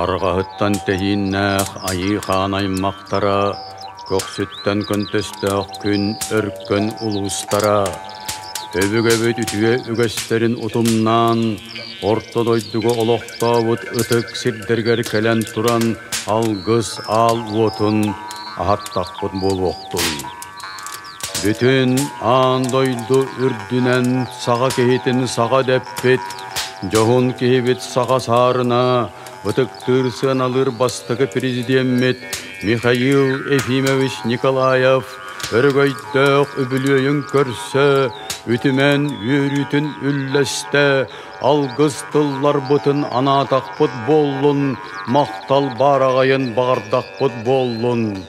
Арҕаһыттан тэһииннээх айыы хаан аймахтара, көхсүттэн көнтөстөөх күн өркөн улуустара, өбүгэбит үтүө үгэстэрин утумнаан, орто дойдуга олохтообут ытык сирдэригэр кэлэн туран алгыс аал уотун аһаттахпыт буолуохтун! Бүтүн аан дойду үрдүнэн саха киһитин саха дэппит, дьоһун киһибит саха саарына ытыктыыр сыаналыыр бастакы президеммит Михаил Ефимович Николаев өрөгөйдөөх үбүлүөйүн көрсө, үтүмэн үөрүүтүн үллэстэ, алгыс тылларбытын анаатахпыт буоллун, махтал баараҕайын баҕардахпыт буоллун.